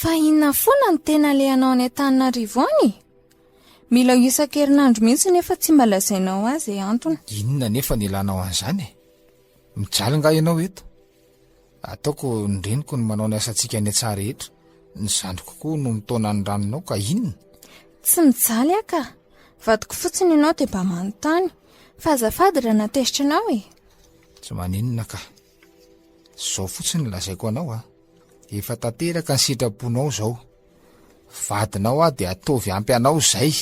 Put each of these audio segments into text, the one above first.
Fa inona foana no tena alehanao any Antananarivo any? Mila isan-kerinandro mihitsy nefa tsy mba lazainao azy e antony. Inona nefa ny ilànao an'izany e? Mijaly nga ianao eto? Ataoko ny reniko ny manao ny asantsika any an-tsaha rehetra. Ny zandriko koa no mitaona ny ranonao ka inona? Tsy mijaly aho ka. Vadiko fotsiny ianao dia mba manontany. Fa azafady raha natezitra anao e. Tsy maninona ka. Izao fotsiny no lazaiko anao a. Efa tanteraka ny sitraponao izao. Vadinao aho dia ataovy ampy anao izay.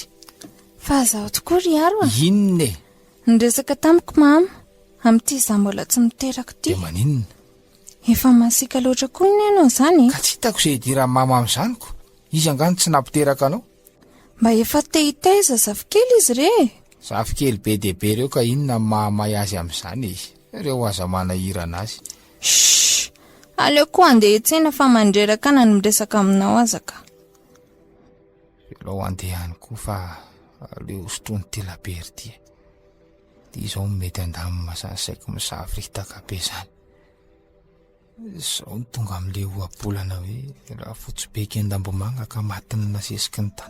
Fa izaho tokoa ry Aro a! Inona e? Niresaka tamiko Mama, amin'ity izaho mbola tsy miteraka ity. Dia maninona? Efa masiaka loatra koa ny anao izany e! Ka tsy hitako izay idiran'i Mama amin'izany ko! Izy angaha no tsy nampiteraka anao? Mba efa te hitaiza zafikely izy re e! Zafikely be dia be ireo ka inona no mahamay azy amin'izany e? Ireo aza manahirana azy. Shh! Aleo koa andeha hiantsena fa mandreraka na ny miresaka aminao aza ka. Alao andeha ihany koa fa aleo sotroin'i Telabery ity e. Ity izao no mety handamina izany saiko misavoritaka be izany. Izao no tonga amin'ilay ohabolana hoe raha fotsy be eky an-dambomanga ka matin'ny nasesiky ny tany.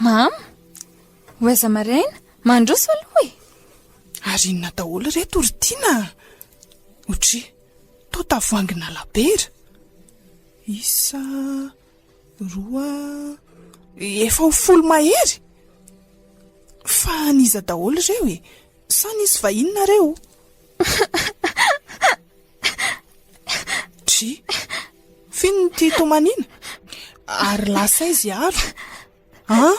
Mama, ho aiza maraina? Mandroso aloha e! Ary inona daholo ireto ry Tiana a? Otri, toa tavoahangy nalabaira. Isa, roa, efa ho folo mahery! Fa an'iza daholo ireo e? Sa nisy vahiny nareo? Dry! F'inona ity tomaniana? Ary lasa aiza i Aro? An?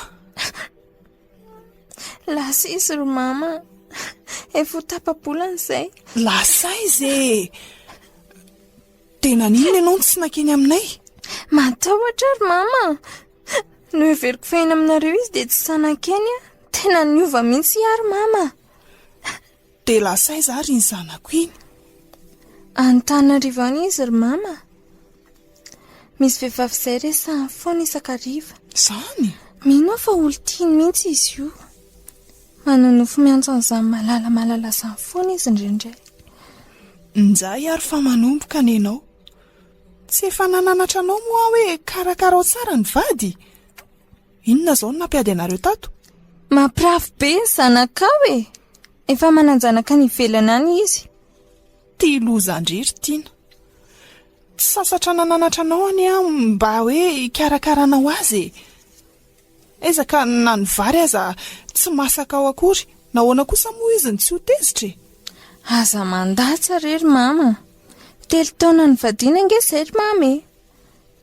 Lasa izy ry mama. Efa ho tapa-bolana izay. Lasa aiza e? Dia naninona ianao no tsy nankeny aminay? Matahotra aho ry mama. Noheveriko fa eny aminareo izy dia tsy sahy nankeny aho. Tena niova mihitsy i Aro mama. Dia lasa aiza ary iny zanako iny? Any Tananarivo any izy ry mama. Misy vehivavy izay resahiny foana isan-kariva. Izany? Mino aho fa olon-tiany mihitsy izy io. Manonofy miantso an'izany Malala Malala izany foana izy indraindray. Njay ary fa manomboka ny anao. Tsy efa nananatra anao moa aho hoe karakarao tsara ny vady? Inona izao no nampiady anareo tato? Mampirafy be ny zanakao e! Efa manan-janaka any ivelany any izy. Tia loza ndry ry Tiana. Tsy sasatra nananatra anao anie aho mba hoe hikarakara anao azy e! Ezaka na ny vary aza tsy masaka ao akory, nahoana kosa moa izy no tsy ho tezitra e? Aza mandatsa re ry mama. Telo taona nivadiana ange izay ry mama e!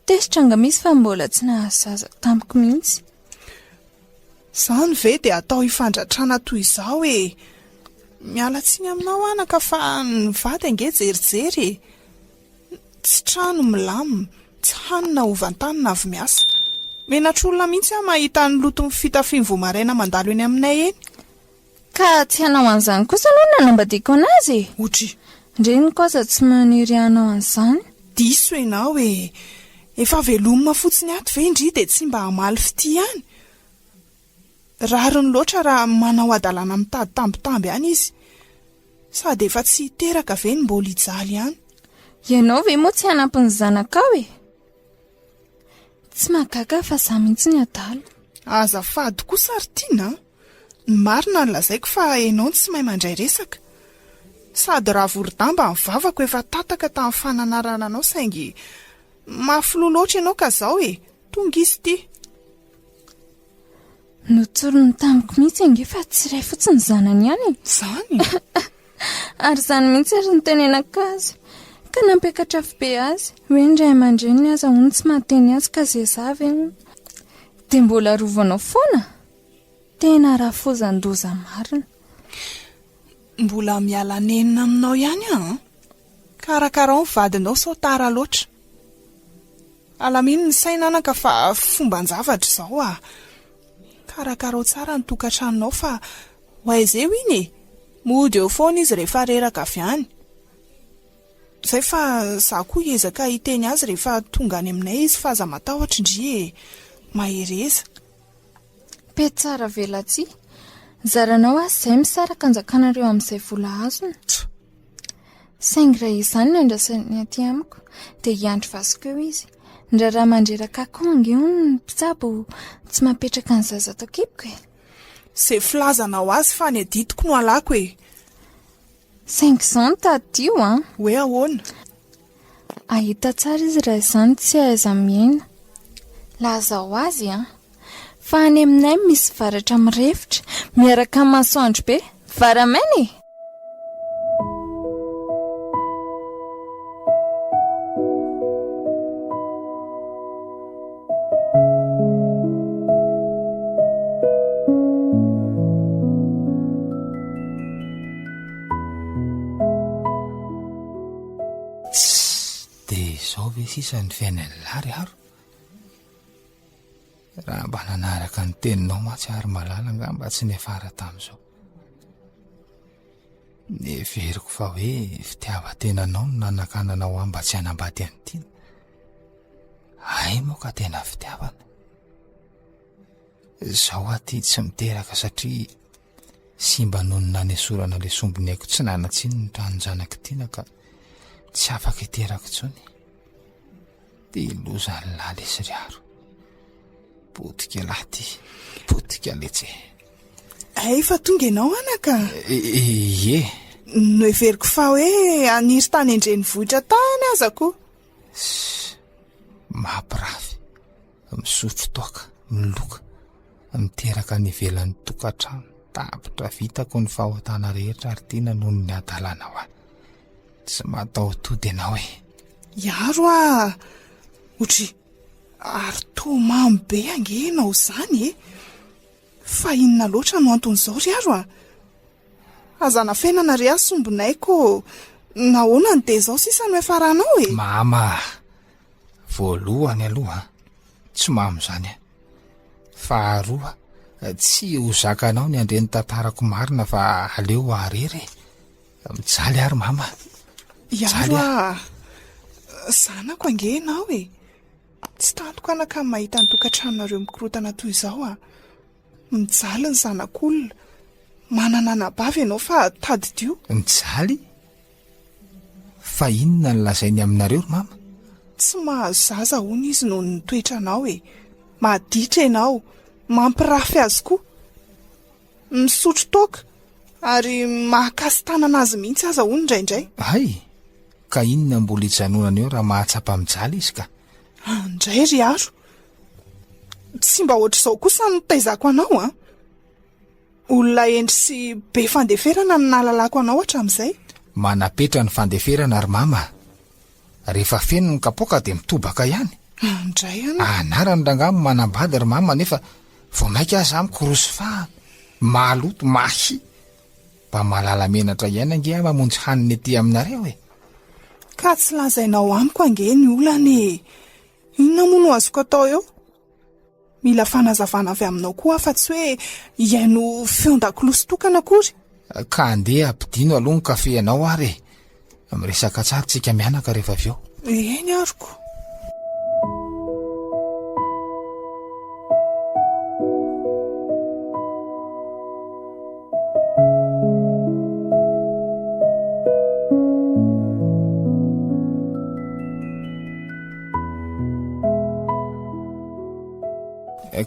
Tezitra nga misy fa mbola tsy nahazo zaza tamiko mihitsy. Izany ve dia atao hifandratrana toy izao e! Miala tsiny aminao anaka fa ny vady ange jerijery e! Tsy trano milamina, tsy hanina ho vantanina avy miasa. Menatr'olona mihitsy aho mahita ny loton'ny fitafian'ny voamaraina mandalo eny aminay eny. Ka tsy hanao an'izany kosa aloha no nanambadiako an'azy e! Otry. Reniko aza tsy maniry hanao an'izany. Diso enao e! Efa veloma fotsiny ato ve indry dia tsy mba hamaly fitia any? Rariny loatra raha manao hadalana mitady tambitamby any izy. Sady efa tsy hiteraka ve no mbola hijaly any? Ianao ve moa tsy hanampy ny zanakao e! Tsy mahagaga fa za mihitsy ny adala. Azafady kosa ry Tiana a! Ny marina no lazaiko fa enao no tsy mahay mandray resaka. Sady ravoridamba ny vavako efa tataka tamin'ny fananarana anao saingy mahafiloha loatra enao ka zao e! Tonga izy ity. Notsoriny tamiko mihitsy ange fa tsy iray fotsiny ny zanany ihany e! Zany? Ary izany mihitsy ary no tenenako azy. Ka nampiakatra fo be azy, hoe ny ray aman-dreniny aza hono tsy mahateny azy ka zezavy hono. Dia mbola arovanao foana? Tena rafozan-doza marina. Mbola miala nenina aminao ihany aho an! Karakarao ny vadinao sao tara loatra. Alamino ny saina anaka fa fomban-javatra izao ah! Karakarao tsara ny tokantranonao fa ho aiza eo iny e! Mody eo foana izy rehefa reraka avy any. Izay fa izaho koa hiezaka hiteny azy rehefa tonga any aminay izy fa aza matahotra ndry e! Mahereza. Pe tsara velatsihy. Zaranao aza izay misaraka anjakanareo amin'izay vola azony. Tchou! Saingy raha izany no andrasany aty amiko, dia hiandry vasiko eo izy. Ny raharaha mandreraka ahy koa ange hono ny mpitsabo tsy mapetraka ny zaza ato an-kiboko e! Izay filazanao azy fa any adidiko no halako e! Saingy izany tadidio an! Hoe ahoana? Ahita tsara izy raha izany tsy ahaiza-mihena. Lazao azy an! Fa any aminay misy varatra mirefotra, miaraka amin'ny masoandro be. Varamaina e! Tss! Dia izao ve sisa ny fiainan'i Lary aro? Raha mba nanaraka ny teninao mantsy ary Malala angamba tsy niafara tamin'izao. Neveriko fa hoe fitiavan-tenanao no nanakananao ahy mba tsy hanambady an'i Tiana. Hay moa ka tena fitiavana. Izao aho ity tsy miteraka satria Tsy mba noho ny nanesorana le sombiny haiko tsy nanatsiny ny tranon-janak'i Tiana ka tsy afaka hiteraka intsony de loza ny lahy lesy ry Aro. Potika lahy ty, potika letsy. Ay fa tonga ianao anaka. Ie. Noheveriko fa hoe aniry tany an-drenivohitra tany aza koa. Mampirafy. misotro toaka, miloka, miteraka any ivelan'ny tokantrano. Tapitra vitako ny fahotana rehetra ary tiana noho ny hadalana ho ahy. Tsy mataho-tody ianao e. Iaro ah, otry ary toa mamy be ange ianao izany e. Fa inona loatra no anton'izao ry aro ah. Aza anafenana ry ahy sombinay ko nahoana no dia izao sisa no hiafaranao e. Mama, Voalohany aloha tsy mamo zany a. Faharoa tsy ho zakanao ny handre ny tantarako marina fa aleo arery e. Mijaly ary mama. Iaro a. Zanako ange ianao e. Tsy tantiko anaka ny mahita ny tokantranonareo mikorotana toy izao a. Mijaly ny zanak'olona. Manana anabavy ianao fa tadidio. Mijaly? Fa inona no lazainy aminareo ry mama? Tsy mahazo zaza hono izy noho ny toetranao e! Maditra ianao, mampirafy azy koa, misotro toaka ary mahakasi-tanana azy mihitsy aza hono indraindray. Hay! Ka inona mbola ijanonana eo raha mahatsapa mijaly izy ka! Andray ry Aro! Tsy mba ohatr'izao kosa no taizako anao an! Olona hendry sy be fandeferana no nahalalako anao hatramin'izay. Manapetra ny fandeferana ry mama a! Rehefa feno ny kapoaka dia mitobaka ihany. Indray an! Anarany rangahy no manambady ry mama nefa vao mainka aza aho mikorosy fahana, maloto, mahia. Mba mahalala menatra ihany ange aho mamonjy hanina ety aminareo e! Ka tsy lazainao amiko ange ny olana e! Inona moa no azoko atao eo? Mila fanazavana avy aminao koa aho fa tsy hoe hihaino feon-dakolosy tokana akory. Ka andeha ampidino aloha ny kafe ianao ary e! Miresaka tsara tsika mianaka rehefa avy eo. Eny aroko.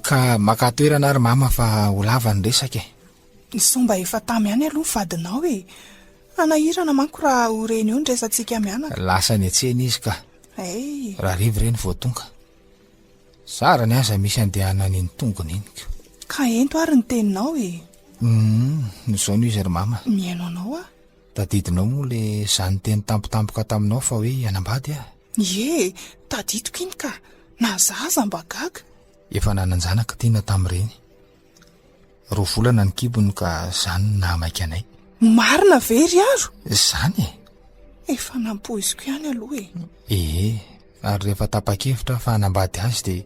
Ka maka toerana ary mama fa ho lava ny resaka e. Nisao mba efa tamy any aloha ny vadinao e. Hanahirana manko raha ho reny eo ny resatsika mianaka. Lasa niantsena izy ka. Hey. Raha revy reny vao tonga. Zara ny aza misy andehanany ny tongony iny ko. Ka ento ary ny teninao e. Hum, izao no izy ry mama. Mihaino anao aho. Tadidinao moa le zany teny tampotampoka taminao fa hoe hianambady aho. Ie, tadidiko iny ka! Na za aza mba gaga! Efa nanan-janaka tiana tamin'ireny. Roa volana ny kibony ka izany no nahamaika anay. Marina ve ry Aro? Izany e! Efa nampoiziko ihany aloha e! Ee, ary rehefa tapa-kevitra aho fa hanambady azy dia.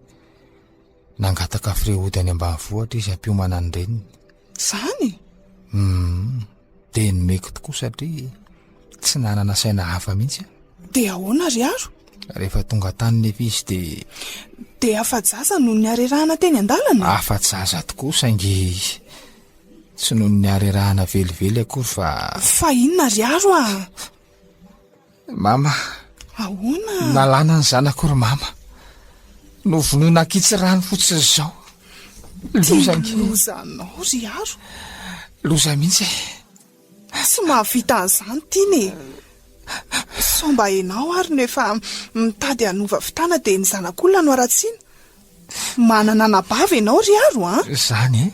Nangataka freody any ambanivohitra izy hampiomana ny reniny. Izany? Hum, dia nomeko tokoa satria tsy nanana saina hafa mihitsy aho. Dia ahoana ry Aro? Rehefa tonga tany nefa izy dia. Dia afa-jaza no niarerahana teny an-dalana? Afa-jaza tokoa saingy tsy noho ny niarerahana velively akory fa. Fa inona ry Aro ah? Mama. Ahoana? Nalana ny zanako ry mama. Novonoina ankitsy rano fotsiny izao. Loza ny loza anao ry Aro. Loza mihitsy e. Tsy mahavita an'izany tiana e. Sao mba enao ary no efa mitady hanova fitana dia ny zanak'olona no aratsiana. Manana anabavy enao ry Aro a. Izany e.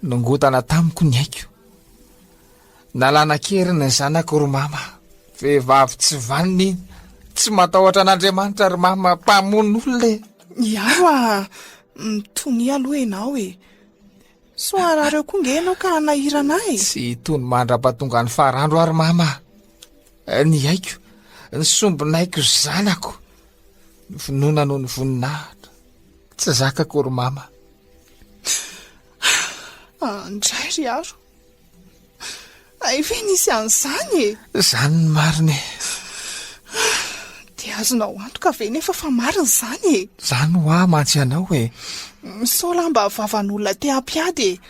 Nongotana tamiko ny aiko. Nalana an-keriny ny zanako ry Mama. Vehivavy tsy vanona iny. Tsy matahotra an'Andriamanitra ry Mama, mpamono olona e. Miaro a! Mitonia aloha ianao e. Sao harary eo koa nge ianao ka hanahirana ahy? Tsy hitony mandrapatonga ny farandro aho ry Mama. Ny haiko, ny sombinaiko ry zanako. Ny finoana noho ny voninahitra. Tsy zakako ry Mama. Andray ry Aro. Hay ve nisy an'izany e! Izany ny marina e! Dia azonao antoka ve nefa fa marina izany e! Izany ho ahy mantsy ianao e! Misaola mba vavan'olona te hampiady e!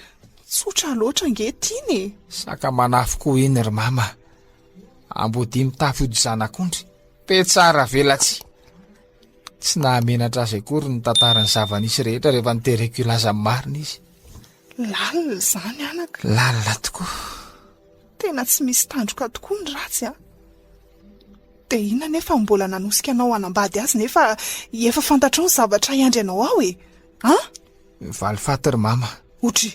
Tsotra loatra ange tiana e! Saka manafo koa iny ry mama! Amboadia mitafy ody zanak'ondry! Be tsara velatsihy! Tsy nahamenatra azy akory ny tantaran'ny zava-nisy rehetra rehefa notereko hilaza ny marina izy. Lalina izany anaka. Lalina tokoa. Tena tsy misy tandroka tokoa ny ratsy a! Dia inona nefa no mbola nanosika anao hanambady azy nefa efa fantatrao ny zavatra hiandry anao ao e! An? Valifaty ry mama. Otry!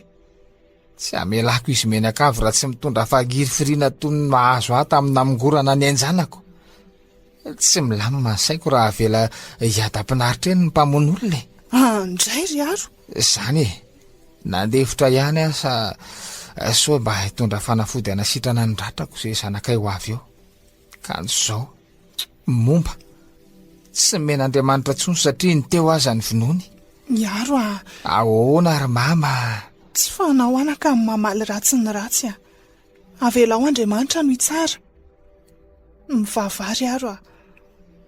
Tsy hamelako izy mianakavy raha tsy mitondra fagirifiriana toy ny mahazo ahy tamin'ny namongorana ny ain-janako. Tsy milamina ny saiko raha avela hiadam-pinaritra eny ny mpamono olona e. Ah, ndray ry Aro. Zany e. Nandefitra ihany aho sa eh, soa mba hitondra fanafody anasitrana ny ratrako sy zanakay ho avy eo. Kanjo zao. Momba. Tsy men'Andriamanitra tsony satria ny teo aza ny vinoany. Miaro ah. Ahoana ry mama? Tsy fanao anaka mamaly ratsy ny ratsy ah. Avelao Andriamanitra no hitsara. Mivavaha ry Aro a.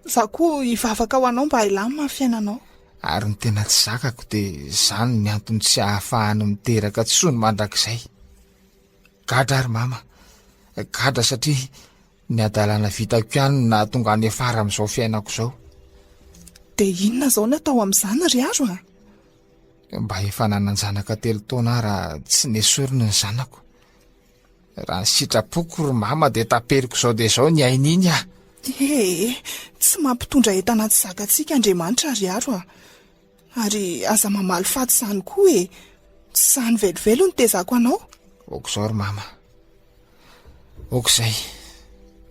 Za koa hivavaka ho anao mba hilamina ny fiainanao. Ary ny tena tsy zakako dia izany ny antony tsy ahafahany miteraka tsony mandrakizay. Gadra ary mama. Gadra satria ny adalana vitako ihany no nahatonga any afara amin'izao fiainako izao. Dia inona izao no atao amin'izany ry Aro a? Mba efa nanan-janaka telo taona aho raha tsy nesoriny ny zanako. Raha ny sitrapoko ry mama dia taperiko izao dia izao ny ainy iny ah. Ee, tsy mampitondra entana tsy zakantsika Andriamanitra ry Aro ah. Ary aza mamaly faty izany koa e. Tsy izany velively no tezako anao. Ok'izao ry mama. Ok'izay.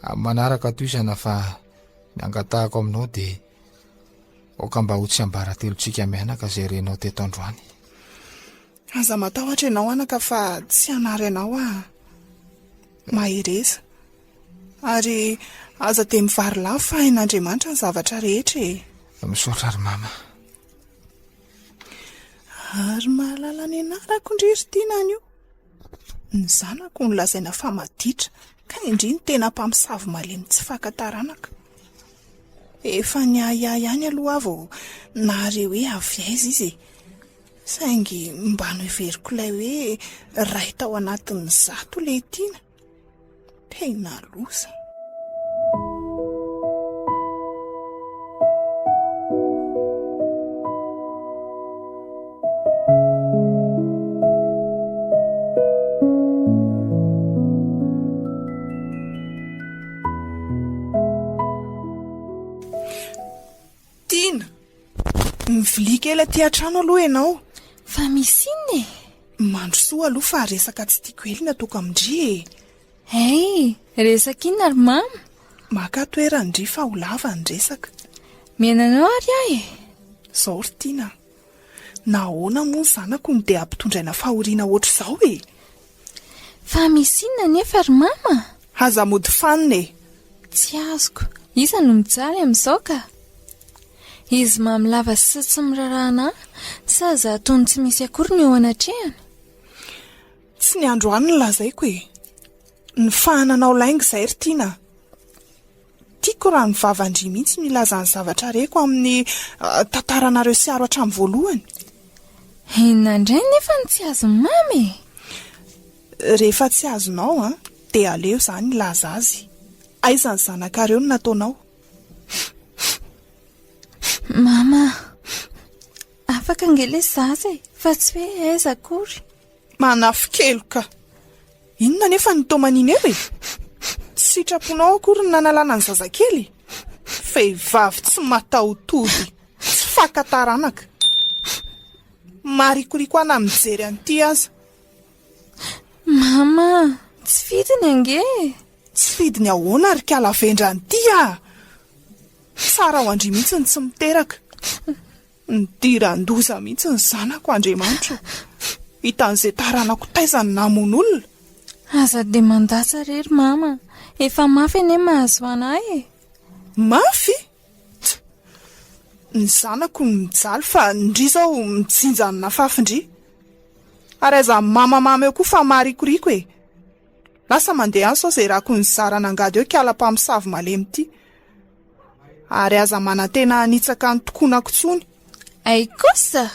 Amin'ny manaraka toizana fa ny angatahako aminao dia Aoka mba ho tsiambaratelontsika mianaka izay renao teto androany. Aza matahotra ianao anaka fa tsy hanary anao aho. Mahereza. Ary aza dia mivarilafy fa hain'Andriamanitra ny zavatra rehetra e. Misaotra ry mama. Ary mahalala ny anarako ndry ry Tiana anio. Ny zanako no lazaina fa maditra. Ka indry ny tena mpamosavy malemy tsy faka taranaka. Efa niahiahy ihany aloha aho vao nahare hoe avy aiza izy e! Saingy mba noheveriko ilay hoe iray tao anatin'ny zato ilay tiana. Tena loza. Tiana, mivilia kely aty an-trano aloha ianao. Fa misy inona e? Mandrosoa aloha fa resaka tsy tiako ely ny ataoko amin-dry e. Hey, resaka inona ry mama? Maka toeran-dry fa ho lava ny resaka. Miaina anao ary aho e. Izao ry Tiana. Nahoana moa ny zanako no dia ampitondraina fahoriana ohatr'izao e? Fa misy inona anefa ry mama? Aza mody fanina e! Tsy azoko. Iza no mijaly amin'izao ka? Izy mamy lava sy tsy miraraha anà, sa izaho toa ny tsy misy akory no eo anatrehany? Tsy ny androany no lazaiko e! Ny fahananao lainga izay ry Tiana a! Tiako raha ny vavan-dry mihitsy no hilaza ny zavatra reko amin'ny tantaranareo Siaro hatramin'ny voalohany. Inona indray nefa no tsy azon'i Mamy e? Rehefa tsy azonao an, dia aleo izaho no hilaza azy. Aiza ny zanakareo no nataonao? Mama, afaka ange ilay zaza e, fa tsy hoe aiza akory. Manafikeloka! Inona anefa ny taomany Imer e? Tsy sitraponao akory ny nanalana ny zazakely? Vehivavy tsy mataho-tody, tsy faka taranaka. Maharikoriko ahy na mijery an'ity aza. Mama, tsy fidiny ange e! Tsy fidiny ahoana ry kala vendrana ity ah! Tsara ho an-dry mihitsy ny tsy miteraka. Nidiran-doza mihitsy ny zanako, Andriamanitra o! Hitan'izay taranako taiza no namono olona? Aza dia mandatsa re ry Mama, efa mafy anie mahazo anay e! Mafy? Tch! Ny zanako no mijaly fa ndry izao mijinja ny nafafy ndry! Ary aza mamamama eo koa fa maharikoriko e! Lasa mandeha any sao izay rako nizara nangady eo kiala mpamosavy malemy ity. Ary aza manantena hanitsaka ny tokonako tsony. Ay kosa!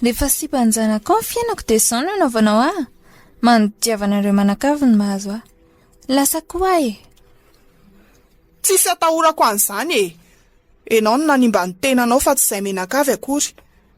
Rehefa sipa ny zanako ao ny fiainako dia izao no anaovanao ahy. Manodiavana ireo manakavy ny mahazo ahy. Lasa koa ahy e! Tsisy atahorako an'izany e! Enao no nanimba ny tenanao fa tsy izay menakavy akory.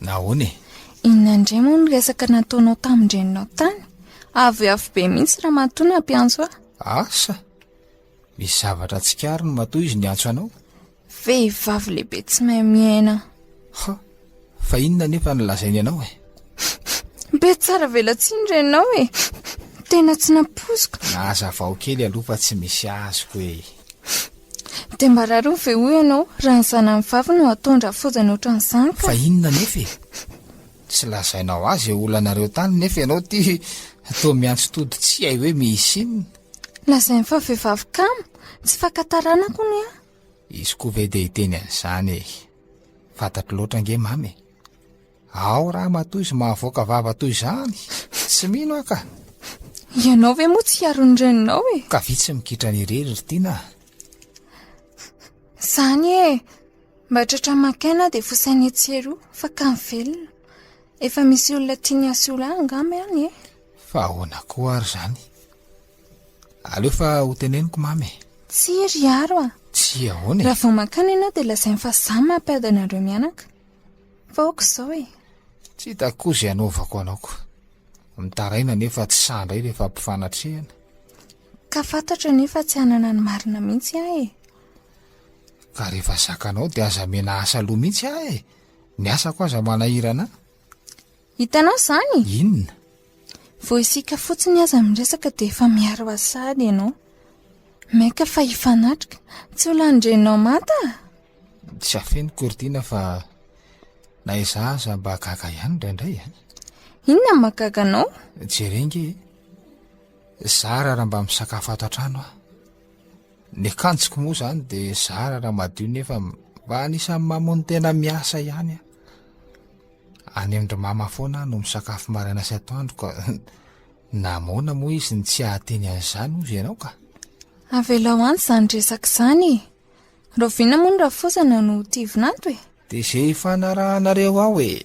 Nahoana e? Inona indray moa ny resaka nataonao tamin-dreninao tany? Avoavo be mihitsy ramatoa nampiantso ahy. Asa? Misy zavatra tsikariny matoa izy niantso anao? Vehivavy lehibe tsy mahay miaina. Ha, fa inona nefa no lazainy anao e? Be tsara velatsihy ny e. Tena tsy nampoiziko. Nazavao kely aloha fa tsy misy azoko e. Dia mba rariny ve hoy ianao raha ny zanany vavy no ataon-dra foizany ohatran'izany ka? Fa inona anefa e? Tsy lazainao ahy izay olanareo tany nefa ianao ity toa miantso tody tsy hay hoe misy inona. Lazainy fa vehivavy kamo, tsy fakan-taranaka hono aho. Izy koa ve dia hiteny an'izany e? Fantatro loatra ange mama e. Ao ramatoa izy mahavoaka vava toy izany, tsy mino aho ka. Ianao ve moa tsy hiaro ny reninao e? Ka vitsy mikitra ny irery ry Tina. Zany e, mba tratra maka aina dia fosaina etsy eroa, fa ka velona. Efa misy olona tiany hasolo ahy angamba any e. Fa ahoana koa ary zany? Aleo fa hoteneniko mamy e. Tsia ry Aro a. Tsia ahoana e? Raha vao mankany ianao dia lazainy fa za mampiady anareo mianaka. Fa aoka izao e! Tsy hitako koa izay hanaovako anao ko. Mitaraina nefa tsy sahy indray ilay fampifanatrehana. Ka fantatro anie fa tsy hanana ny marina mihitsy aho e! Ka rehefa zakanao dia aza miana asa aloha mihitsy aho e! Ny asako aza manahirana ahy. Hitanao izany? Inona? Vao isika fotsiny aza miresaka dia efa miaro Assad ianao. Maika fa hifanatrika. Tsy ho lanin-dreninao manta? Tsy afeniko ry Tina fa na izaho aza mba gaga ihany indraindray a. Inona no mahagaga anao? Jereo ange e. Zara raha mba misakafo ato an-trano aho. Ny akanjoko moa izany dia zara raha madio nefa mba anisan'ny mamono tena miasa ihany aho. Any amin-dry mama foana aho no misakafo maraina sy atoandro ka namoana moa izy ny tsy hahateny an'izany hozy ianao ka. Avelao any izany resaka izany e! Rahoviana moa ny rafozana no ho tivon'ato e? Dia izay hifanarahanareo ao e!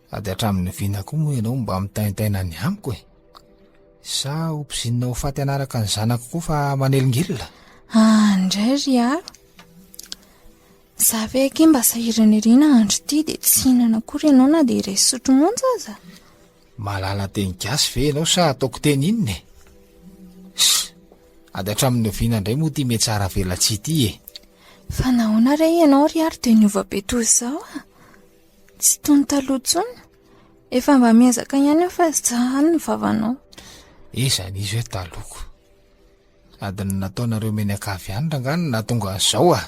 Ady hatramin'ny vina koa moa ianao mba mitaintaina ny amiko e! Sa ho pizinina ho faty hanaraka ny zanako koa fa manelingilina? Ah, indray ry aro. Za ve akia mba sahiranirina andro ity dia tsy hihinana akory ianao na dia iray sotro monja aza? Mahalala teny gasy ve ianao sa ataoko teny inona e? Ssss, ady hatramin'ny oviana indray moa ity metsara velatsihy ity e? Fa nahoana re ianao ry aro dia niova be toy izao ah? Tsy toy ny taloha intsony. Efa mba miezaka ihany aho fa zà any ny vavanao. Iza nisy hoe taloko? Adiny nataonareo mianakavy ihany rangah no nahatonga an'izao ah.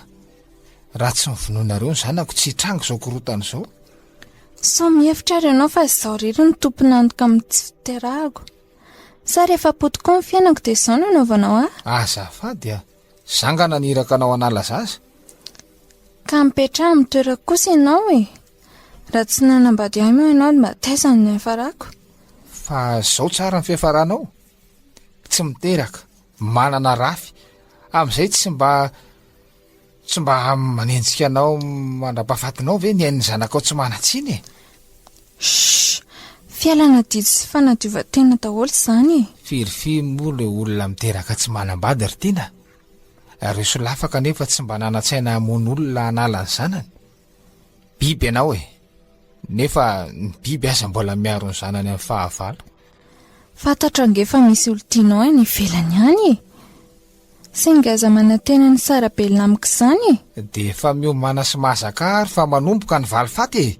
Raha tsy ny vonoanareo ny zanako tsy hitranga izao korontana izao. Sao mihevitra ary ianao fa izaho irery no tompon'antoka amin'ny tsy fiterahako. Sa rehefa potipoy ny fiainako dia izao no anaovanao ahy? Azafady ah. Zanga naniraka anao hanala zaza? Ka mipetraha amin'ny toerako kosa ianao e! Raha tsy nanambady ahy moa ianao dia mba taiza no niafarako? Fa izao tsara ny fiafaranao? Tsy miteraka, manana rafy, amin'izay tsy mba tsy mba manenjika anao mandra-pahafatinao ve ny ain'ny zanakao tsy manan-tsiny e? Shh! Fialana didy sy fanadiovan-tena daholo izany e! Firy firy moa ireo olona miteraka tsy manambady ry Tiana a! Ireo solafaka anefa tsy mba nanan-tsaina hamono olona hanala ny zanany? Biby ianao e! Nefa ny biby aza mbola miaro ny zanany amin'ny fahavalo. Fantatra ange fa misy olon-tianao any ivelany any e! Singa aza manantena ny sarabelona amiko izany e! Dia efa miomana sy mahazaka ary fa manomboka ny valifaty e!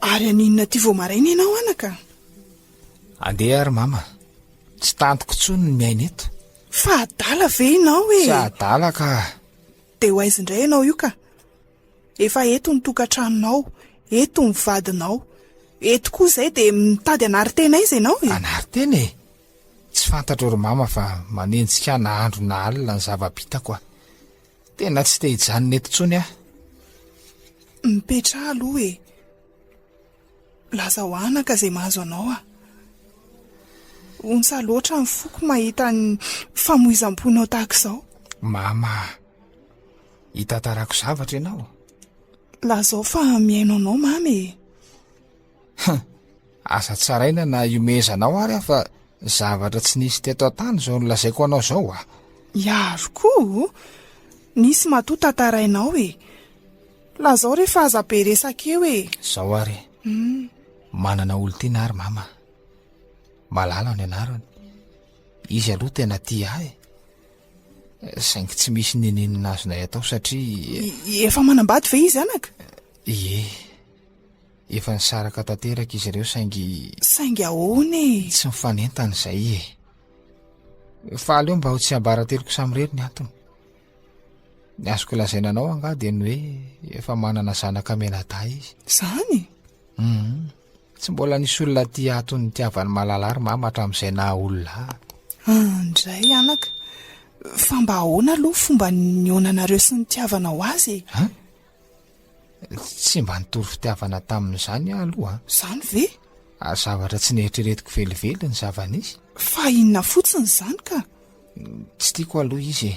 Ary haninona aty vao maraina ianao anaka? Andeha ary mama. Tsy tantiko intsony ny miaina eto. Fa adala ve ianao e? Tsy adala ka. Dia ho aiza indray ianao io ka? Efa eto ny tokantranonao, eto ny vadinao. Eto koa izay dia mitady anarintena aiza ianao e? Anarintena e? Tsy fantatro ry mama fa manenjika ahy na andro na alina ny zava-bitako aho. Tena tsy te hijanona eto intsony aho. Mipetraha aloha e. Lazao anaka izay mahazo anao a. Ontsa loatra ny foko mahita ny famoizam-ponao tahaka izao. Mama, hitantarako zavatra ianao. Lazao fa mihaino anao mama e. Huh! Aza tsaraina na iomezanao ary aho fa zavatra tsy nisy teto an-tany izao nolazaiko anao izao ah! Miaro koa o! Nisy matoa tantarainao e! Lazao re fa aza be resaka eo e! Izao ary, hmm. manana olon-tiana ary mama. Malala ny anarany. Izy aloha tena tia ahy. Saingy tsy misy neninina azonay atao satria... Efa manambady ve izy anaka? Ie. Efa nisaraka tanteraka izy ireo saingy. Saingy ahoana e? Tsy mifanentana izay e. Fa aleo mba ho tsy ambarateloko samirery ny antony. Ny azoko lazaina anao angaha dia ny hoe efa manana zanaka menadahy izy. Zany? Mhm. Tsy mbola nisy olona aty ato nitiavan'i Malala ary mama hatramin'izay naha olona ahy. Andray ah, anaka. Fa mba ahoana aloha fomba nihaonanareo sy nitiavanao azy e? Tsy mba nitory fitiavana tamin'izany aho aloha. Izany ve? Ary zavatra tsy neritreretiko velively ny zava-nisy. Fa inona fotsiny izany ka? Tsy tiako aloha izy e.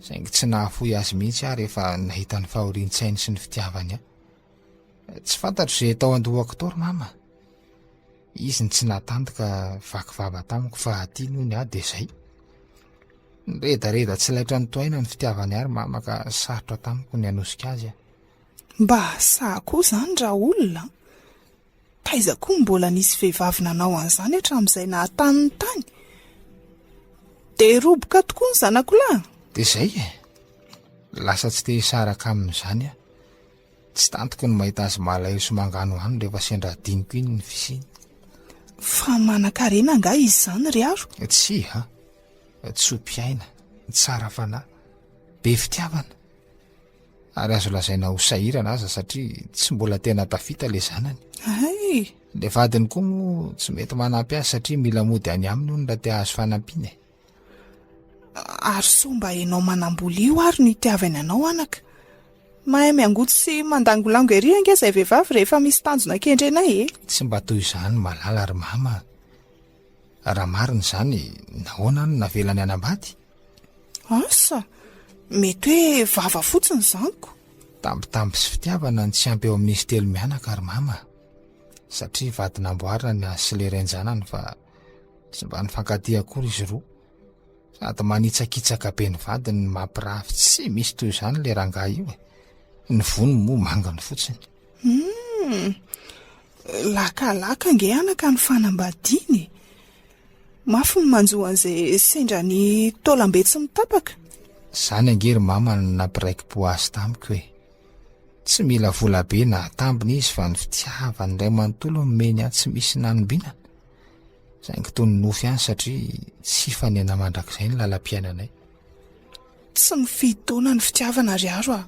Saingy tsy nahafoy azy mihitsy aho rehefa nahita ny fahorian-tsainy sy ny fitiavany ahy. Tsy fantatro izay tao an-dohako tao ry Mama. Izy no tsy natanty ka vaky vava tamiko fa aty noho ny ahy dia izay. Niredareda tsy laitra nitohaina ny fitiavany ary mama ka sarotra tamiko ny hanosika azy aho. Mba sahy koa izany raha olona an! Taiza koa no mbola nisy vehivavy nanao an'izany hatramin'izay nahatany ny tany? Dia roboka tokoa ny zanako lahy! Dia izay e! Lasa tsy te-hisaraka amin'izany aho. Tsy tantiko ny mahita azy malahelo sy manganohano rehefa sendra adinoko iny ny fisiany. Fa manankarena angaha izy izany ry Haro? Tsia a! Tsoa mpiaina, tsara fanahy, be fitiavana. Ary azo lazaina ho sahirana aza satria tsy mbola tena tafita ilay zanany. Hay! Ilay vadiny koa moa tsy mety manampy azy satria mila mody any aminy hono raha te hahazo fanampiana e! Ary sao mba ianao manam-bola io ary no itiavany anao anaka? Mahay miangotsy sy mandangolango ery ange izay vehivavy rehefa misy tanjona kendrenay e! Tsy mba toy izany Malala ry Mama a! Raha marina izany, nahoana no navelany hanambady? Asa! Mety hoe vava fotsiny izany ko! Tambitamby sy fitiavana ny tsy ampy eo amin'izy telo mianaka ry Mama a! Satria vady namboarina ny ahy sy ilay ren-janany fa. Tsy mba nifankatia akory izy roa. Sady manitsakitsaka be ny vadiny ny mampirafy tsy misy toy izany le rangahy io e. Ny vony moa mangany fotsiny. Hmm. Lakalaka nge anaka ny fanambadiany. Mafy ny manjo an'izay sendra ny taolambe tsy mitapaka. Zany ange ry mama ny nampiraiki-po azy tamiko e. Tsy mila vola be na atambiny izy fa ny fitiavany iray manontolo no nomeny ahy tsy misy nanombinana. Saingy toy ny nofy ihany satria tsy hifanena mandrakizay ny lalam-piainanay. Tsy mifidy taona ny fitiavana ry Aro a!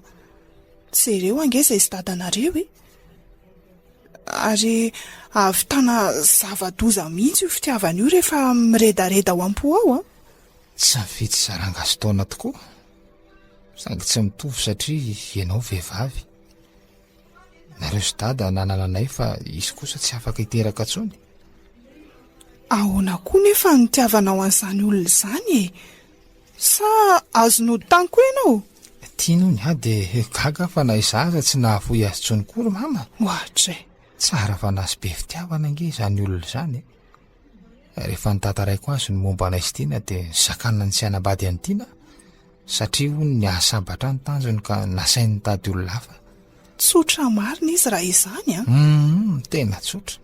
Jereo ange izay sy dadanareo e! Ary ahavitana zava-doza mihitsy io fitiavana io rehefa miredareda ao am-po ao an! Tsy mifidy saranga sy taona tokoa, saingy tsy mitovy satria ianao vehivavy, Nareo sy dada nanana anay fa izy kosa tsy afaka hiteraka intsony. Ahoana koa nefa ny nitiavanao an'izany olona izany e? Sa azon'ody tany koa ianao? Tiany hono aho dia gaga aho fa na izaho aza tsy nahafoy azy intsony koa ry mama. Ohatra e! Tsara fanahy sy be fitiavana ange izany olona izany e! Rehefa notantaraiko azy ny momba anay sy Tiana dia zakanany tsy hanambady an'i Tiana Satria hono nihasambatra ny tanjony ka nasainy nitady olona hafa. Tsotra marina izy raha izany an! Hum, tena tsotra.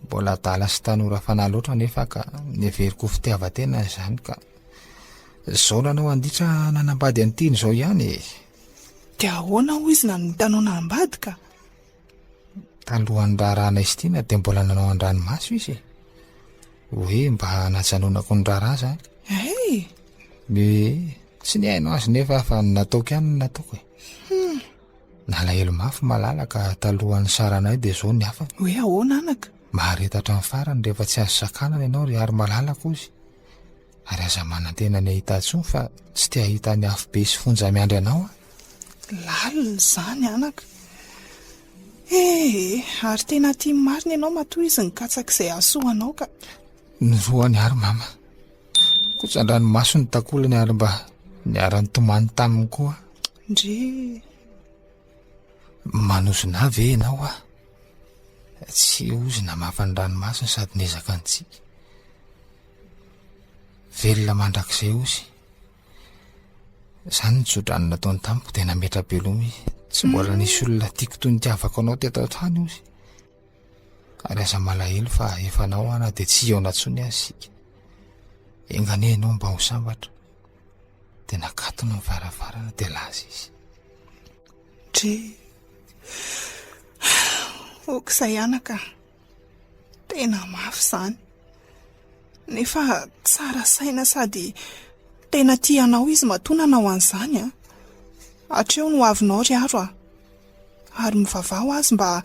Mbola adala sy tanora fanahy loatra anefa ka neveriko ho fitiavan-tena izany ka izao nanao anditra nanambady an'ity ny izao ihany e! Dia ahoana hoy izy nanao nitanao nahambady ka? Talohan'ny raharaha Naistina dia mbola nanao an-dranomaso izy e. Hoe mba hanajanonako ny raharaha izany. Hey! Dia tsy nihaino azy nefa fa ny nataoko ihany no nataoko e. Hmm. Nalahelo mafy malala ka talohan'ny saranay dia izao ny hafany. Hoe ahoana anaka? Mahareta hatramin'ny farany rehefa tsy azo sakanana ianao ry ary malala kozy. Ary aza manantena ny hahita intsony fa tsy te hahita ny afobe sy fonja miandry anao aho. Lalina izany anaka. Ee, ary tena tia marina ianao matoa izy nikatsaka izay hahasoa anao ka. Ny roany ary mama. Kotsan-dranomaso ny takolany ary mba niara-nitomany taminy koa. Ndry. Manozona ahy ve ianao aho? Tsy ozona mafy ny ranomasony sady niezaka nitsiky. Velona mandrakizay ozy. Izany ny tsodrano nataony tamiko dia nametra-beloma izy. Tsy mbola nisy olona tiako toy ny tiavako anao teto an-trano ozy. Ary aza malahelo fa efa anao aho na dia tsy hihaona intsony aza isika. Enga anie ianao mba ho sambatra. Dia nakatony ny varavarana dia laza izy. Dry, ok izay anaka. Tena mafy izany. Nefa tsara saina sady tena tia anao izy matoa nanao an'izany. Hatreo ny hoavinao ry haro a! Ary mivavaha ho azy mba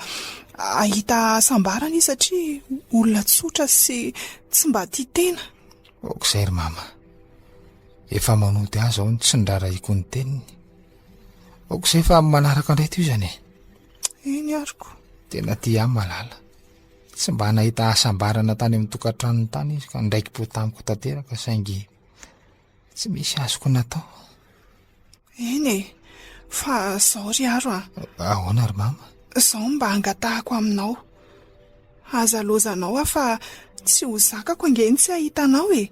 hahita hasambarana izy satria olona tsotra sy tsy mba tia tena. Ok izay ry mama. Efa manody azy aho ny tsy niraharahiako ny teniny. Ok izay fa amin'ny manaraka indray tohizana e. Eny ary ko. Tena tia ahy Malala. Tsy mba nahita hasambarana tany amin'ny tokantranony tany izy ka niraikim-po tamiko tanteraka saingy tsy misy azoko natao. Eny e, fa zao ry Aro a. Ahoana ry Mama? Zao mba angatahako aminao. Aza lozanao aho fa tsy ho zakako ange ny tsy hahita anao e.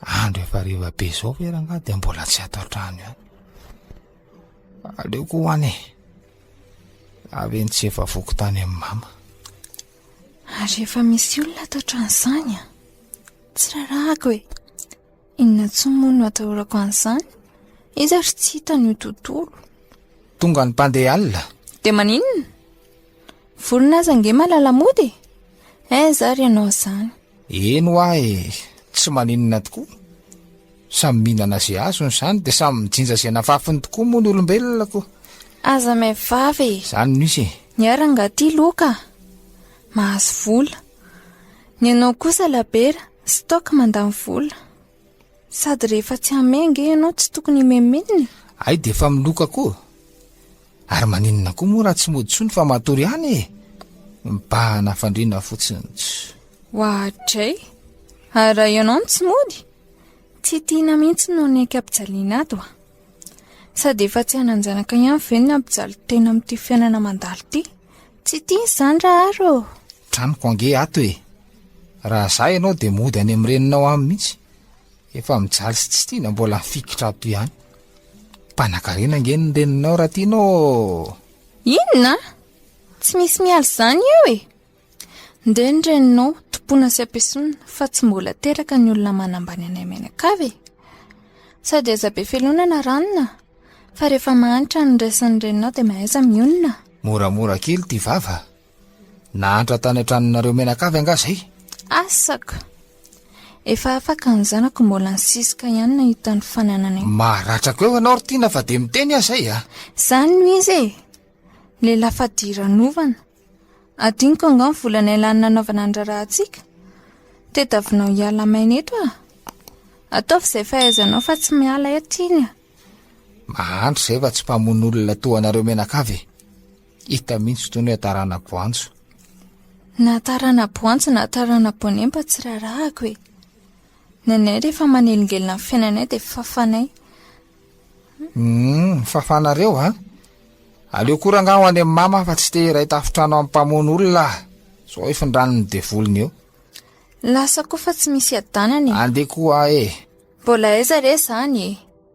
Andro efa hariva be izao ve rangahy dia mbola tsy ato an-trano ihany. Aleoko ho any e. Avy eny tsy efa voky tany amin'ny mama. Ary efa misy olona ato an-trano izany a. Tsy rarahako e. Inona tsy moa no atahorako an'izany? Iza ry tsy hita ny tontolo. Tonga ny mpandeha alina. Dia maninona? Vorona aza nge malala mody e. Eh, zary ianao izany. Eny hoa e! tsy maninona tokoa, samy mihinana ze azony zany de samy mijinja ze nafafiny tokoa moa ny olombelona ko! Aza may vava e! Zany no izy e! Ny ahy rangah ty loka a! mahazo vola, ny anao kosa labera, stock mandany vola. Sady rehefa tsy hame ange ianao tsy tokony himemenina e! Hay dia efa miloka koa! Ary maninona koa moa raha tsy mody intsony fa matory ihany e! Mibahana hafandriana fotsiny tsy. Oadray! Ary raha ianao no tsy mody? Tsy tiana mihitsy no niaiky ampijaliana ato a! Sady efa tsy hanan-janaka ihany ve ny hampijaly tena amin'ity fiainana mandalo ity? Tsy tiana izany rahary ô! Tranoko ange ato e! Raha za ianao dia mody any amin'ny reninao any mihitsy. Efa mijaly sy tsy tiana mbola mifikitra ato ihany. Mpanakarena ange ny reninao raha tianao ô! Inona? Tsy misy miala izany eo e! Ndeha ny reninao tompoina sy ampiesonina fa tsy mbola teraka ny olona manambany anay mianakavy e! Sady aiza be felonana ranona fa rehefa mahantra ny resin'ny reninao dia mahaiza mionona. Moramora kely ity vava Nahantra tany an-tranonareo menakavy angaha zay? Asako! Efa afaka ny zanako mbola nisiska ihany nahita ny fanananay. Maharatrako eo ianao ry Tiana fa dia miteny aho izay a! Izany no izy e! Lehilahy fadiranovana. Adinoko angaha ny volanay lany nanaovana ny raharahantsika? Tadiavinao hiala maina eto a! Ataovy izay fahaizanao fa tsy miala eto iny a! Mahantra izay fa tsy mpamono olona toa anareo menakavy e! Hita mihitsy toy ny hoe tarana-boantso. Na tarana-boantso na tarana-boanemba tsy raharahako e. Ny anay rehefa manelingelina ny fiainanay dia fafanay. Hum, fafanareo an? Aleo koa rangaha ho any amin'ny mama fa tsy te hiray tafontrano amin'ny mpamono olona aho. Sao ifindran'ny devoliny eo. Lasa koa fa tsy misy hiadanana e. Andeha koa aho e. Mbola aiza re izany e?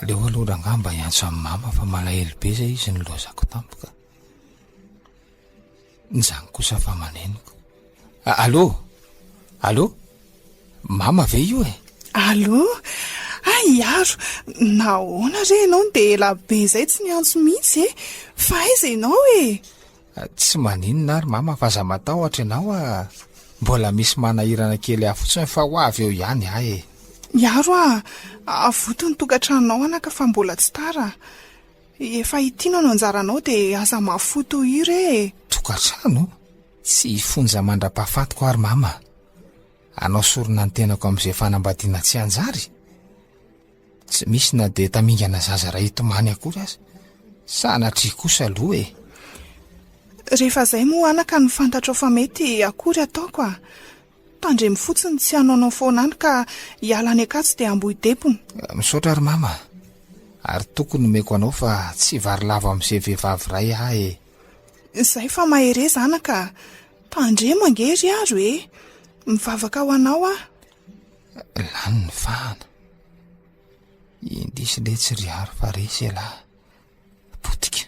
Aleo aloha rangahy mba hiantso an'i mama fa malahelo be izay izy nilaozako tampoka. Nizany kosa fa manenoko. Alô? Alô? Mama ve io e? Alô? Ah, iaro, nahoana re ianao no dia ela be izay tsy niantso mihitsy e? Fa aiza ianao e? Tsy maninona ary mama fa aza matahotra ianao a! Mbola misy manahirana kely ahy fotsiny fa ho avy eo ihany ahy e! Miaro a! Avoty ny tokantranonao anaka fa mbola tsy tara! Efa hitino no anjaranao dia aza mahafoy toa io re e! Tokantrano? Tsy hifonja mandra-pahafatiko aho ry mama! Hanao sorona ny tenako amin'izay fanambadiana tsy hanjary? Tsy misy na dia tamingana zaza iray tomany akory aza. Sanatria kosa aloha e! Rehefa izay moa anaka no fantatrao fa mety akory ataoko a! Tandremo fotsiny tsy hanaonao foana any ka hiala any Ankatso dia hambohy depona. Misaotra ry Mama a! Ary tokony nomeko anao fa tsy vary lava amin'izay vehivavy iray ahy e! Izay fa mahereza anaka a! Tandremo ange ry Aro e! Mivavaka ho anao aho. Lany ny fahana. Indrisy letsy ry Hary fa resy ialahy. Potika.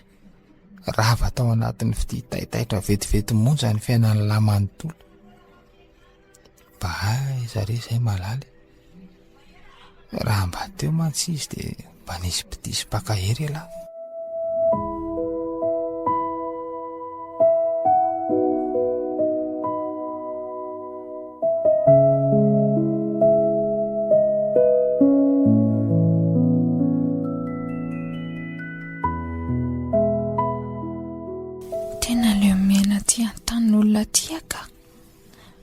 Rava tao anatin'ny fitia taitaitra vetivety monja ny fiainan'ny lahy manontolo. Mba aiza re izay malala e? Raha mba teo mantsy izy dia mba nisy mpidiso mpankahery elah.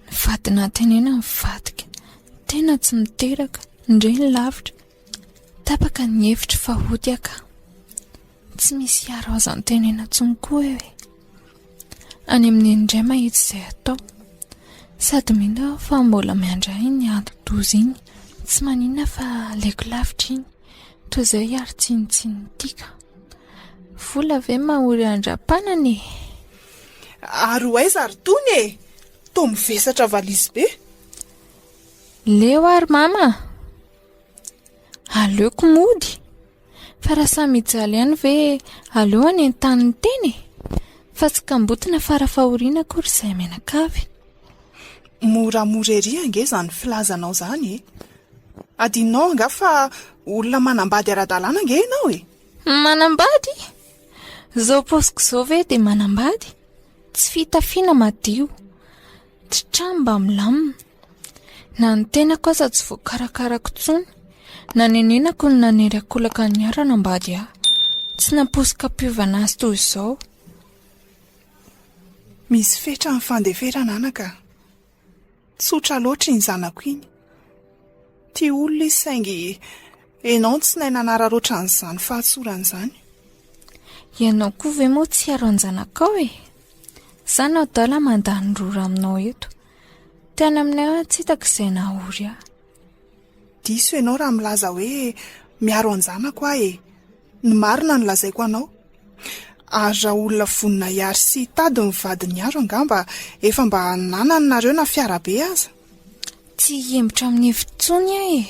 Mivadina antenaina mivadika. Tena tsy miteraka. Ndre ny lavitra. Tapaka ny hevitro fa ody aho ka. Tsy misy hiaro azy antenaina intsony koa aho e. Any amin'i Neny indray mahita izay atao. Sady mino aho fa mbola miandry ahy iny ati-doza iny. Tsy maninona fa aleko lavitra iny. Toy izay hiaro tsinontsinon'ity ka. Vola ve mahory andram-panana e? Ary ho aiza ary tony e? Toa mivesatra valizy be. Leo ary mama a! Aleoko mody. Fa raha samy hijaly ihany ve aleo hanentany ny tena e! Fa tsy kamboty na fara fahoriana akory izay mianakavy. Moramora ery ange izany filazanao izany e! Adinonao angaha fa olona manambady ara-dalàna ange ianao e! Manambady? Zao paosiko zao ve de manambady? Tsy fitafiana madio, tsy trano mba milamina. Na ny tenako aza tsy voakarakarako intsony. Nanenenako ny nanery an-kolaka ny hiara hanambady ahy. Tsy nampoiziko hampiovana azy toy izao. Misy fetra ny fandeferana anaka a! Tsotra loatra iny zanako iny. Tia olona izy saingy ianao no tsy nahay nanararaotra an'izany fahatsorany izany. Ianao koa ve moa tsy hiaro an-janakao e? Izaho no adala mandany rora aminao eto. Tany aminay aho tsy hitako izay nahaory ahy. Diso ianao raha milaza hoe miaro an-janako aho e. Ny marina no lazaiko anao. Ary raha olona vonona hiary sy hitady ny vadiny iharo angamba efa mba nanany nareo na fiarabe aza. Tsy hihembotra amin'ny hevitra intsony aho e!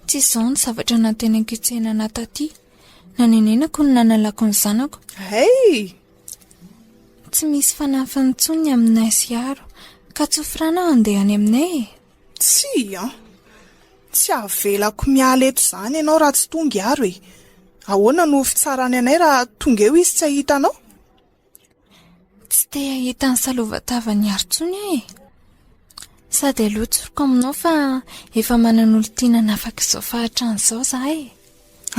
Tsy izao ny zavatra nantenaiko hitsehana taty. Nanenenako ny nanalako ny zanako. Hey! Tsy misy fanafiny intsony ny aminay sy Hiaro, ka tsofirano aho handeha any aminay e! Tsia an! Tsy avelako miala eto izany ianao raha tsy tonga i Aro e! Ahoana no ho fitsarany anay raha tonga eo izy tsy hahita anao? Tsy te hahita ny salovantavan'i Aro intsony aho e! Sady aleo tsoriko aminao fa efa manana olon-tiana hanafaka izao fahantrana izao izaho e!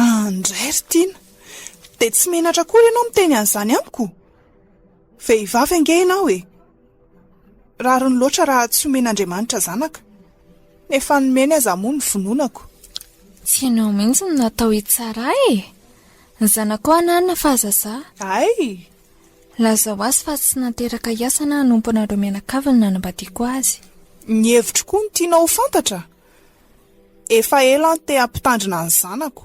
An, indray ry Tiana! Dia tsy menatra akory ianao miteny an'izany amiko? Vehivavy ange ianao e! Rariny loatra raha tsy omen'Andriamanitra zanaka. Ny efa nomeny aza moa no vononako. Tsy ianao mihitsy no natao hitsara ahy e! Ny zanako hoa hananina fa aza za. Hay! Lazao azy fa tsy nateraka hiasa na hanompo anareo mianakavy no nanambadiako azy. Ny hevitro koa no tianao ho fantatra? Efa ela aho te hampitandrina ny zanako,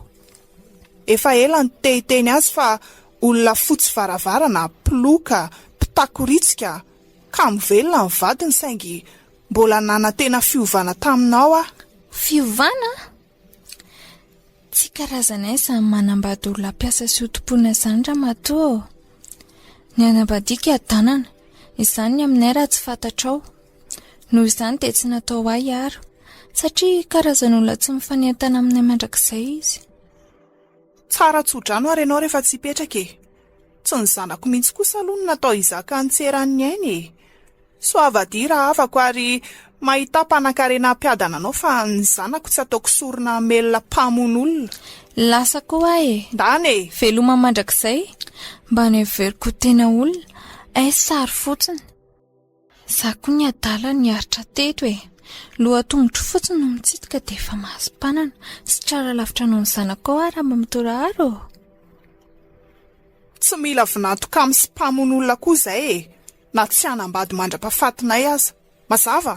efa ela ny te hiteny azy fa olona fotsy varavarana, mpiloka, mpitakoritsiaka, kamo velona ny vadiny saingy mbola nanantena fiovana taminao aho. Fiovana? Tsy karazanay izany manambady olona mpiasa sy hotompoina izany ramatoa ô! Ny anabadiako hiadanana, izany ny aminay raha tsy fantatrao. Noho izany dia tsy natao ahy aro, satria karazan'olona tsy mifanentana aminay mandrakizay izy. Tsara tso-drano ary ianao rehefa tsy hipetraka e! Tsy ny zanako mihitsy kosa aloha no natao hizaka an'i Tseran'ny aina e! Soavadia rahavako ary mahita mpanankarena hampiadana anao fa ny zanako tsy ataoko sorona hamelona mpamono olona. Lasa koa aho e! Ndana e! Veloma mandrakizay! Mba noheveriko ho tena olona, est-ce sary fotsiny? Za koa ny adala niaritra teto e! Loha tongotro fotsiny no mitsitoka dia efa mahazo mpanana. Tsy tratra lavitra noho ny zanakao aho Ramamatora ary ô! Tsy mila vinanto kamo sy mpamono olona koa izay e! Na tsy hanambady mandra-pahafatinay aza. Mazava?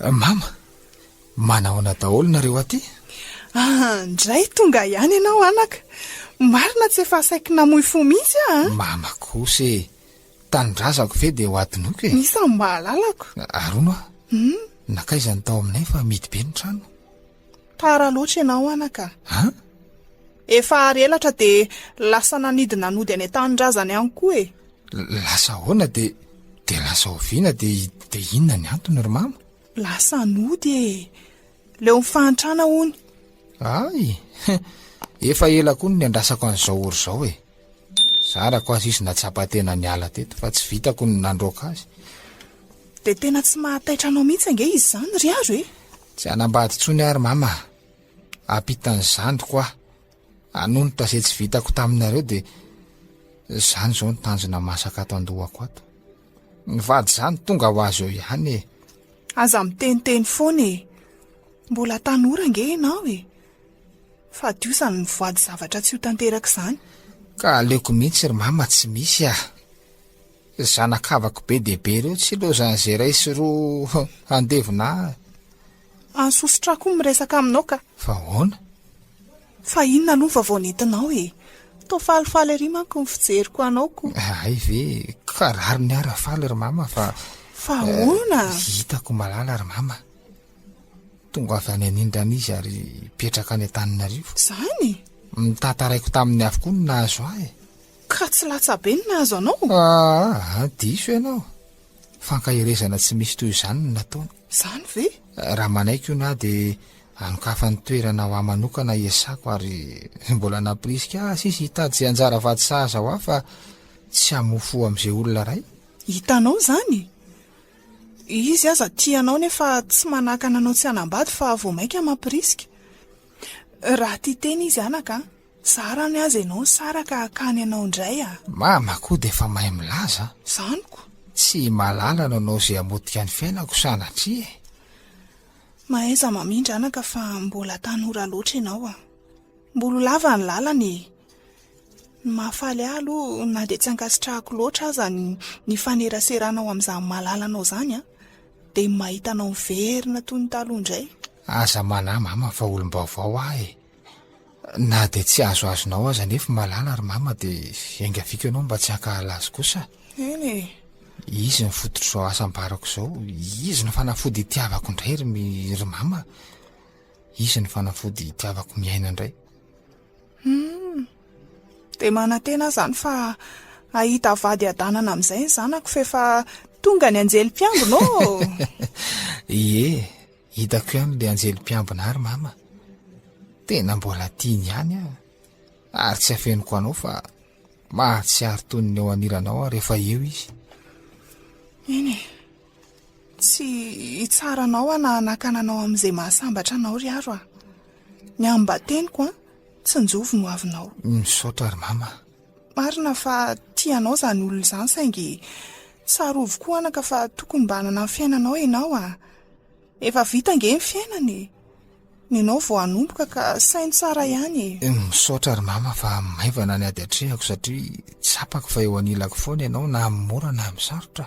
Mama, manahoana daholo nareo aty? Ah, ndray tonga ihany ianao anaka. Marina tsy efa saiky namoy fo mihitsy aho an! Mama kosa e, tanindrazako ve dia ho adinoko e? Isan'ny mahalalako. Arono aho, nakaiza ny tao aminay fa mihidy be ny trano. Tara loatra ianao anaka. An? Efa ary elatra dia lasa nanidina nody any an-tanindrazana ihany koa e. Lasa ahoana dia dia lasa oviana dia dia inona ny antony ry mama? Lasa nody e. Leo ny fahantrana hono. Ay, efa ela koa no niandrasako an'izao ory izao e. Zarako aza izy nahatsapa tena niala teto fa tsy vitako ny nandroaka azy. Dia tena tsy mahataitra anao mihitsy ange izy izany ry Aro e. Tsy hanambady intsony aho ry Mama a! Ampitan'ny zandriko aho hanonitra izay tsy vitako taminareo dia izany izao ny tanjona masaka ato an-dohako ato. Ny vady izany tonga ho azy eo ihany e! Aza miteniteny foana e! Mbola tanora ange ianao e! Fadio izany mivoady zavatra tsy ho tanteraka izany. Ka aleoko mihitsy ry Mama tsy misy a! Ry zanakavako be dia be ireo tsy lozan'izay iray sy roa handevona ahy. Any sosotra ahy koa miresaka aminao ka. Fa ahoana? Fa inona aloha ny vaovao nentinao e? Toa falifaly ery manko ny fijeriko anao ko. Hay ve, ka rariny ahy raha faly ry mama fa. Fa ahoana? Hitako malala ry mama. Tonga avy any anindrana izy ary hipetraka any Antananarivo. Izany? Ny tantaraiko taminy avokoa no nahazo ahy. Ka tsy latsabe ny nahazo anao? Aa! diso ianao. Fankaherezana tsy misy toy izany no nataony. Izany ve? Raha manaiky hono aho dia anokafany toerana ho ahy manokana i Esako ary mbola nampirisika azy izy hitady izay anjara vady sahaza ho ahy fa tsy hamoa fo amin'izay olona iray. Hitanao izany? Izy aza tia anao nefa tsy manakana anao tsy hanambady fa vao mainka mampirisika. Raha tia tena izy anaka an! Tsara ny azy ianao nisaraka akany ianao indray a! Mama koa dia efa mahay milaza a! Zany ko! Tsy i Malala no nanao izay hamotika ny fiainako sanatria e! Mahaiza mamindra anaka fa mbola tanora loatra ianao a! Mbola ho lava ny lalana e! Ny mahafaly ahy aloha na dia tsy ankasitrahako loatra aza ny nifaneraserana ao amin'izany Malala anao izany a! Dia ny mahita anao miverina toy ny taloha indray! Aza manahy mama fa olom-baovao aho e! Na dia tsy azoazonao aza anefa Malala ry Mama dia iangaviako ianao mba tsy hankahala azy kosa a! Eny e! Izy no fototr'izao asa ambarako izao, izy no fanafody itiavako indray ry mi, ry Mama a! Izy no fanafody itiavako miaina indray. Humm! Dia manantena aho izany fa hahita vady hiadanana amin'izay ny zanako f'efa tonga ny anjely mpiambina ô! Ie! Hitako ihany le anjely mpiambina ary mama tena mbola tiany ihany ah ary tsy afenoko anao fa mahatsiaro toy ny eo aniranao aho rehefa eo izy iny tsy hitsara anao ah nahanakana anao amin'izay mahasambatra anao ry aro ah ny ambateniko ah tsinjovy no avinao misaotra ary mama Marina fa tia anao izany olona izany saingy tsarovy koa anaka fa tokony mba hanana ny fiainanao ianao a! Efa vita ange ny fiainana e! Ny anao vao hanomboka ka saino tsara ihany e! Misaotra ry mama fa maivana ny ady atrehako satria tsapako fa eo anilako foana ianao na amin'ny mora na amin'ny sarotra.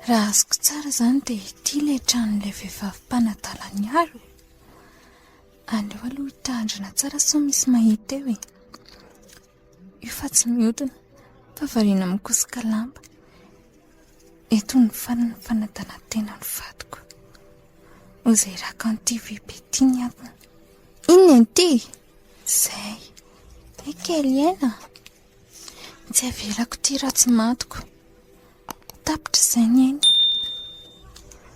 Raha azoko tsara izany dia ity ilay tranon'ilay vehivavy mpanadala ny aro e. Aleo aloha hitandrina tsara sao misy mahita eo e. Io fa tsy mihodina fa variana mikosoka lamba. Eto ny faran'ny fanadalantena ny vadiko. Ho izay raka an'ity vy be ity ny antony. Inona ity? Izay. Hay kely aina. Tsy avelako ity raha tsy matiko. Tapitra izay ny aina.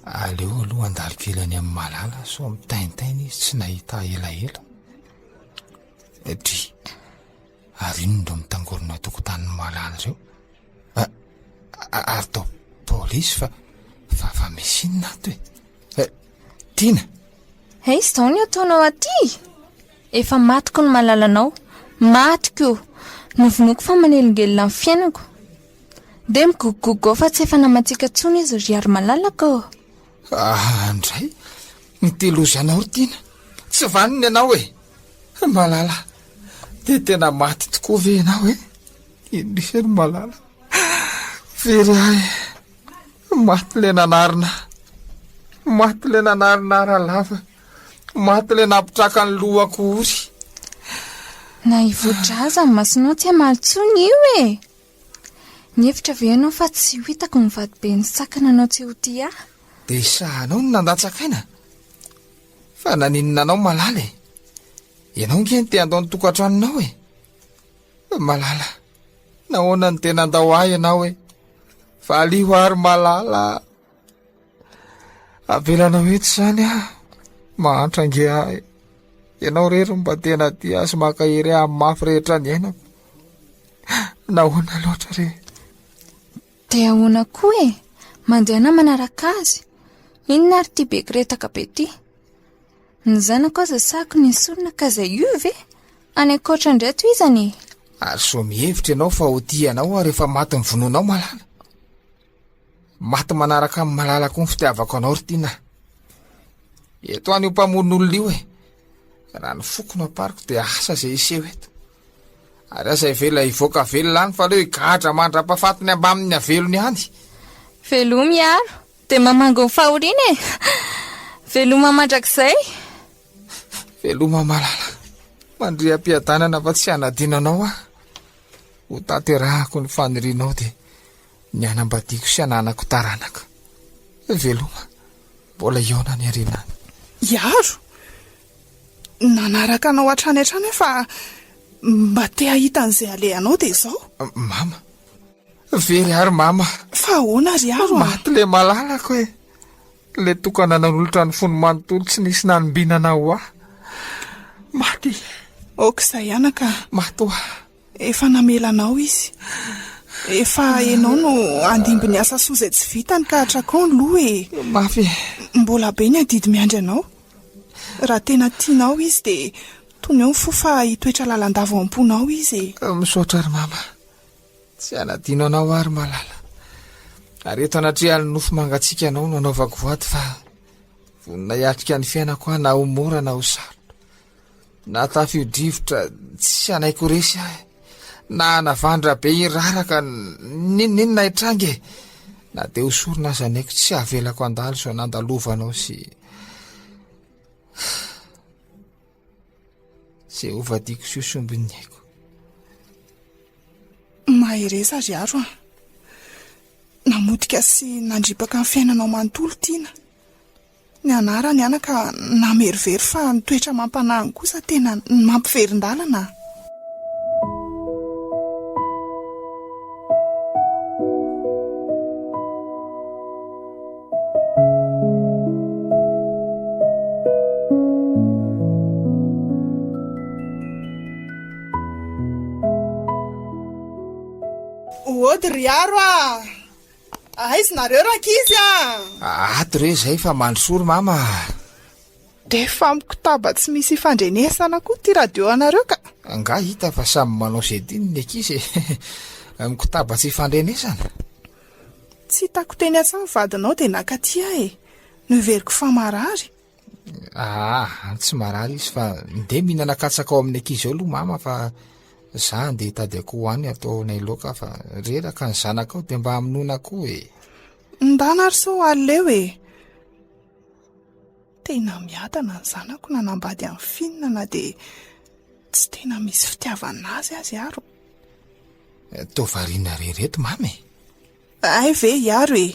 Aleo aloha handalo kely any amin'i Malala sao mitaintaina izy tsy nahita ahy elaela. Satria ary inona ireo mitangorona an-tokotanin'i Malala ireo? Ary tao polisy fa fa misy inona ato e? Eh, Tiana! Hey, izao ny ataonao aty? Efa matiko ny malalanao. Matiko! Novonoiko fa manelingelina ny fiainako. Dia migogogogo fa tsy efa namantsika tsony izy ry ary malalaka ô! Aa ndray! Mitelozy anao ry Tiana! Tsy vanona ianao e! Malala! Dia tena maty tokoa ve ianao e? Indrisy ry Malala! Very ahy! Maty ilay nanarina! Maty ilay nanarina ara lava! Maty ilay nampitraka ny lohako ory! Na hivoatra aza ny masonao tsy hamaly tsony io e! Nihevitra ve ianao fa tsy ho hitako ny vadiben'ny saka nanao tsy ho tia ahy? Dia isahanao ny nandatsak'aina? Fa naninona anao Malala e? Ianao ange no te-handao ny tokantranonao e! Malala, nahoana no dia nandao ahy ianao e? Valio àry Malala! Avelanao etsy zany ah, mahantra ange ahy. Ianao rery mba tena dia sy mankahery ahy mafy rehetra ny ainako. Nahoana loatra re? Dia ahoana koa e? Mandehana manaraka azy. Inona ary ty be kiretaka be ty? Ny zanako aza sahako ny sorona ka zay io ve? Any ankoatra indray to izany e. Ary soa mihevitra ianao fa ho tia anao ary efa maty ny vononao malala. Maty manaraka amin'ny malala koa ny fitiavako anao ry Tiana. Eto any io mpamono olona io e. Raha ny foko no ampariko dia asa izay hiseho eto. Ary aza ivela hivoaka velona any fa leo higadra mandra-pafatiny ambamin'ny avelony any. Veloma hiaro dia mamango ny fahoriana e. Veloma mandrakizay. Veloma malala. Mandria am-piadanana fa tsy hanadino anao aho. Ho tanterahako ny fanirianao dia Ny hanambadiako sy hananako taranaka. Veloma, mbola hihaona any aoriana any. Hiaro? Nanaraka anao hatrany hatrany aho fa mba te hahita an'izay alehanao dia izao. Mama. Very ary mama. Fa ahoana ry Aro? Maty le malalako e. Le tokana nanolotra ny fony manontolo tsy nisy nanombinana ho ahy. Maty. Aoka izay anaka. Maty ho ahy. Efa namela anao izy. Efa enao no handimby ny asa soa izay tsy vitany ka atrakao ny loha e! Mafy e! Mbola be ny adidy miandry anao. Raha tena tianao izy dia toneo ny fo fa hitoetra lalandava ao am-ponao izy e! Misaotra ry mama. Tsy hanadino anao aho ry malala. Ary eto anatrehan'ny nofo mangatsiaka anao no anaovako voady fa vonona hiatrika ny fiainako aho na ho mora na ho sarotra. Na tafio-drivotra tsy hanaiky ho resy ahy, na hanavandra be hiraraka, n'inon'inona hitranga e! Na dia ho sorona aza ny aiko, tsy havelako handalo izao nandalovanao sy... Izay hovadiako sy hosombin'ny aiko. Mahereza ry aro an. Namotika sy nandripaka ny fiainanao manontolo Tiana. Nianara ny aina ka namerovero fa ny toetra amam-panahiny kosa tena nampiverin-dalana. Hody ry Haro ah! Aiz nareo rankizy a! Ato re zay fa mandrosoa ry mama a! D'efa mikotaba tsy misy ifandrenesana koa ity radio anareo ka! Angaha hita fa samy manao ze tiany ny ankizy e! Mikotaba tsy ifandrenesana? Tsy hitako teny an-tsaha ny vadinao dia nakaty ahy e! Noheveriko fa marary! Aa tsy marary izy fa ndeha mihinana katsaka ao amin'ny ankizy ao aloha mama fa za ndeha hitady akoho ho any ataonay loaka fa reraka ny zanakao dia mba hamonoana akoho e. Ndana ary sao aleo e. Tena miadana ny zanako nanambady an'i Finn na dia tsy tena misy fitiavana azy aza ary. Toa variana re ireto mama e. Hay ve hiaro e!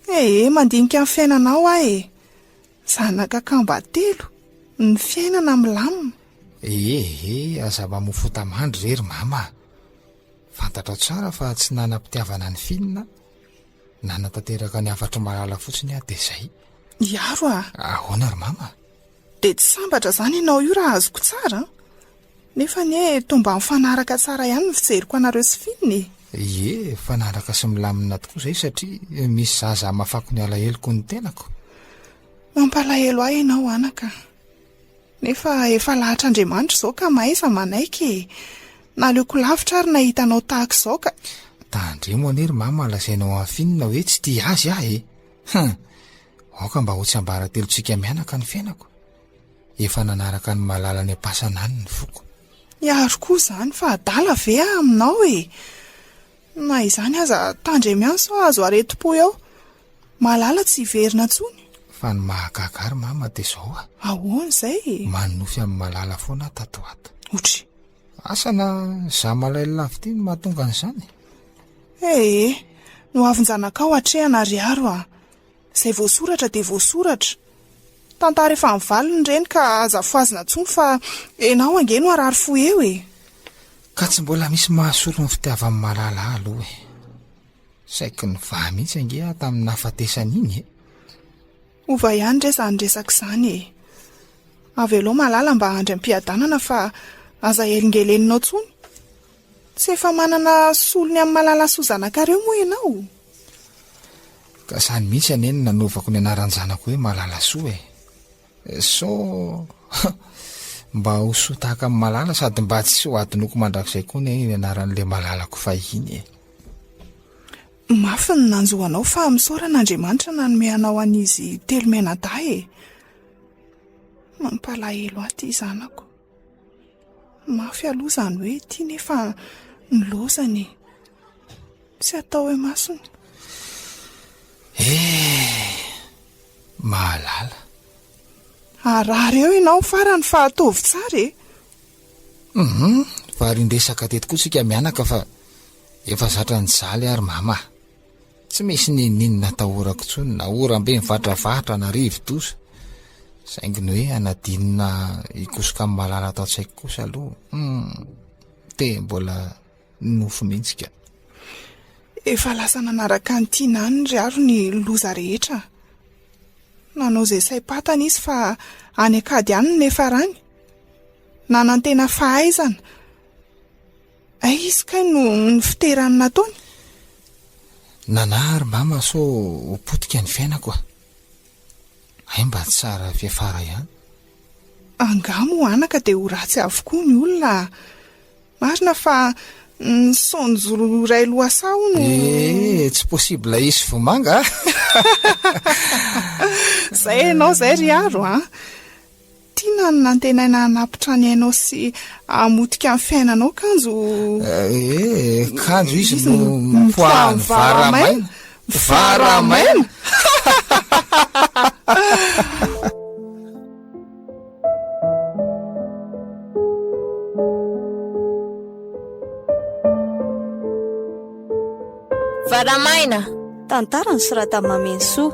Ee, mandinika ny fiainanao aho e! Zanaka kamba telo, ny fiainana milamina. Ee, ee, aza mamofota mandry re ry mama a! Fantatrao tsara fa tsy nanam-pitiavana an'i Finn aho. Nanatanteraka ny hafatr'i Malala fotsiny aho, dia izay. Hiaro a! Ahoana ry mama? Dia tsy sambatra izany ianao io raha azoko tsara an! Nefa anie toa mba mifanaraka tsara ihany ny fijeriko anareo sy Finn e! Ie, mifanaraka sy milamina tokoa izay satria misy zaza hamafako ny alaheloko ny tenako. Mampalahelo ahy ianao anaka. Nefa efa lahatr'Andriamanitra izao ka mahaiza manaiky e! Naleoko lavitra ary nahita anao tahaka izao ka. Tandremo anie ry Mama lazainao an'i Finn hoe tsy tia azy aho e! Hum! Aoka mba ho tsiambaratelontsika mianaka ny fiainako, efa nanaraka an'i Malala any am-pasana any ny foko. Ny ary koa izany fa adala ve aho aminao e! Na izany aza, tandremo ihany sao hahazo aretim-po eo. Malala tsy hiverina intsony. Fa ny mahagaga ary mama dia izao a! Ahoana izay e? Manonofy amin'i Malala foana aho tato ho ato. Otry! Asa na izaho malahelo lavitia no mahatonga an'izany? Ee, noavin-janakao hatrehana ry Aro a! Izay voasoratra dia voasoratra. Tantara efa nivaliny ireny ka aza afohazina intsony fa enao ange no harary fo eo e! Ka tsy mbola misy mahasolo ny fitiavan'i Malala aloha e! Saiky nivaha mihitsy ange aho tamin'ny nahafatesany iny e! Hova ihany re izany resaka izany e! Avelao Malala mba handry am-piadanana fa aza helingeleninao intsony! Tsy efa manana solony amin'i Malala sy ho zanakareo moa ianao? Ka zany mihitsy anie no nanovako ny anaran-janako hoe Malalasoa e! So mba ho soa tahaka amin'i Malala sady mba tsy ho adinoko mandrakizay koa anie io anaran'ilay Malalako fahiny e! Mafy ny nanjo anao fa misaorana Andriamanitra nanome anao an'izy telo mianadahy e! Mampalahelo ahy ity zanako. Mafy aloha izany hoe ity nefa ny lozany e! Tsy atao hoe masony. Eh! Mahalala. Harary eo ianao farany fa ataovy tsara e! Hum! Varian-dresaka teto koa isika mianaka fa efa zatra nijaly ary mama. Tsy misy n'inon'inona atahorako intsony na oram-be mivatravatra na rivo-doza. Saingy ny hoe hanadinona hikosoka amin'ny malala ato an-tsaiko kosa aloha, hum, te mbola nofo mihitsy ka. Efa lasa nanaraka an'i Tiana any ry Haro ny loza rehetra. Nanao izay saim-pantany izy fa any an-kady any no niafarany. Nanantena fahaizana. Aiz kay no nifiterany nataony? Nana ary mama sao ho potika ny fiainako a! Hay mba tsara fiafara ihany. Angaha moa anaka dia ho ratsy avokoa ny olona a! Marina fa ny son joro iray lohasaha hono e! Eh, tsy possible hisy vomanga a! Zay ianao zay ry Aro a! Tiana ny nantenaina hanapitra ny ainao sy hamotika ny fiainanao kanjo Eh, kanjo izy no mipoahan'ny vara maina. Vara maina! Vara maina! Tantara nosoratan'i Mamenisoa.